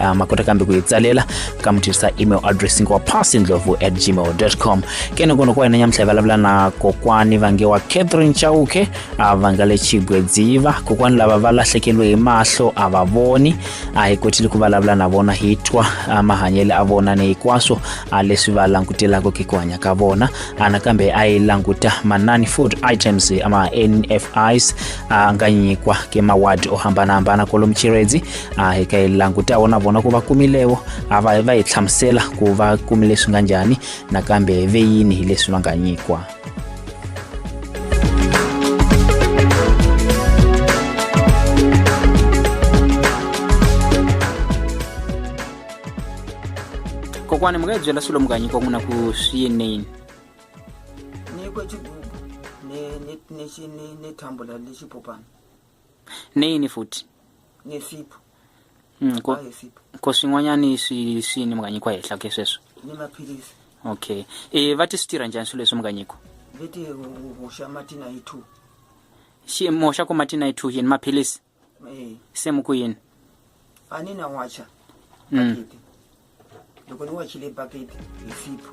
uh, ma kota kambe ku yi tsalela ka mi tirhisa email address wa passindlovu at gmail com ke ni kona ku wena nyamutlha hi vulavula na kokwani va nge wa catherine chauke uh, va nga le chigwedziva kokwani lava va lahlekeliwe hi mahlo a va voni a hi kotile ku vulavula na vona hi twa uh, mahanyelo a vona ni hinkwaswo uh, leswi va langutelaka ke ku hanya ka vona uh, nakambe a yi languta manani food items ama nfis a nga nyikwa ke mawadi o hambanahambana kolomu chiredzi a hi ka yi langutawo na vona ku va kumilewo a va va hi hlamusela ku va kumile swi nga njhani nakambe ve yini hi leswi va nga nyikiwa kokwani mi nga hi byela swilo mi nga nyikiwa n'wina ku swi yinini ni kwe chigubu ni ni ni ni ni thambula lexipopana neyini futhi ngesipho Mm, ko- a ngesipho ko swin'wanyani swi swi ni mi nga nyikiwa henhla ke sweswo ni maphilisi okay e va ti swi tirha njhani swilo leswi mi nga nyikiwa leti hoxa mati na yi two xi mi hoxa ku mati na yi two yini maphilisi Eh, se mi ku yini a ni na wacha Mm. bakiti loko ni wachile bakiti hi sipho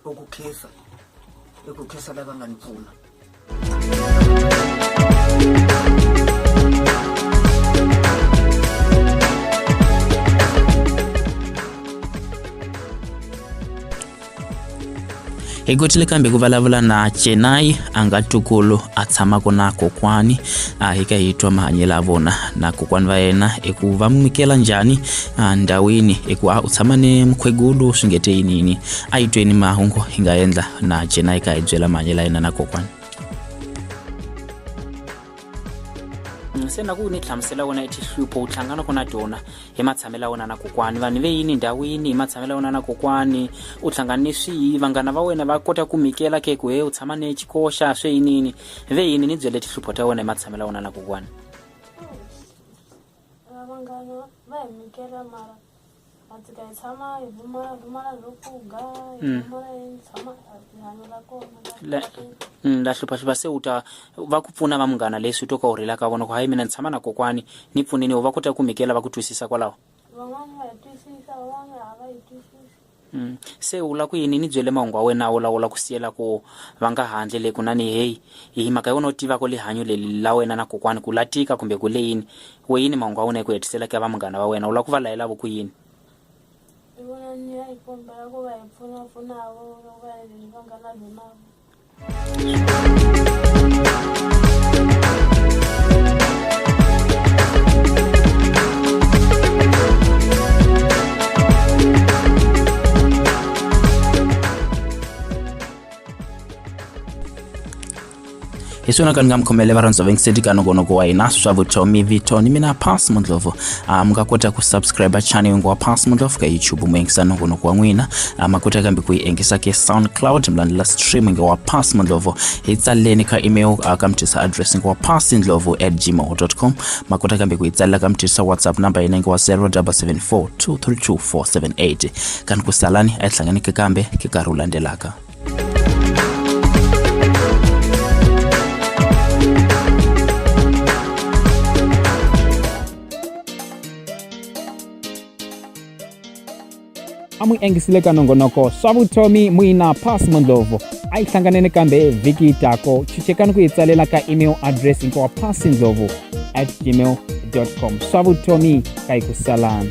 i ku khensa i ku khensa lava nga ni pfuna hi kotile kambe ku vulavula na chenai a nga tukulu a tshamaka na kokwani a hi ka hi twa mahanyelo ya vona na kokwani va yena i ku va n'wi mikela njhani ndhawini i ku a u tshama ni mukhegulu swi nge te yinini a yi tweni mahungu hi nga endla na jena yi ka hi byela mahanyelo ya yena na kokwana mm, se na ku ni hlamusela wena etihlupho u hlanganaka na tona hi matshamelo ya wena na kokwani vanhu ve yini ndhawini hi matshamelo ya wena na kokwani u hlangana ni swihi vanghana va wena va kota ku mikela ke ku he u tshama ni xikoxa swe yinini ve yini ni byele tihlupho ta wena hi matshamelo ya wena na kokwani vanghana va hi mikela mara tikayi tshama hi vumala vumala byo pfuga hi Mm. vumala hi tshama rihanyo ra kona ra La- kahle. Mm, la hluphahlupha se u ta va ku pfuna va munghana leswi u to ka u rhela ka vona ku hayi mina ni tshama na kokwani ni pfuneni u va kota ku mikela va ku twisisa kwalaho van'wana va yi twisisa van'wana a va yi twisisi Mm. se u la ku yini ni byele mahungu wa wena u lawula ku siyela ku va nga handle le kunani heyi hi mhaka yona u tivaka lihanyo leli la wena na kokwani ku la tika kumbe ku le yini weyini mahungu a wena eku hetisela ka va munghana va wena u lava ku va layelavo ku yini hi vona ni ya hi kombela ku va hi pfunapfunavo loko va endleni va nga na lwenavo hi swona ka ni nga mi khomele varhandza va yingiseli ka nongonoko wa hina swa vutomi vito ni mina pass mundlovu ah, mi nga kota ku subscribe channel yingu wa pass mundlovu ka youtube mu yingisa nongonoko wa n'wina ah, ma kota kambe ku yi yingisa ke soundcloud mi landzela stream nge wa pass mundlovu hi tsaleni ka email ah, ka mutisa address nge wa pass ndlovu at gmail com ma kota kambe ku yi tsalela ka mutisa whatsapp number yina nge wa 0774 232478 kani ku salani a yi hlanganeke kambe ke nkarhi wu landzelaka a mu yingisile ka nongonoko swa vutomi muina pass mondlovu a yi hlanganene kambe vhiki yi tako chichekani ku yi tsalela ka email address hinkwawa pass ndlovu at gmail com swa vutomi ka yi ku salana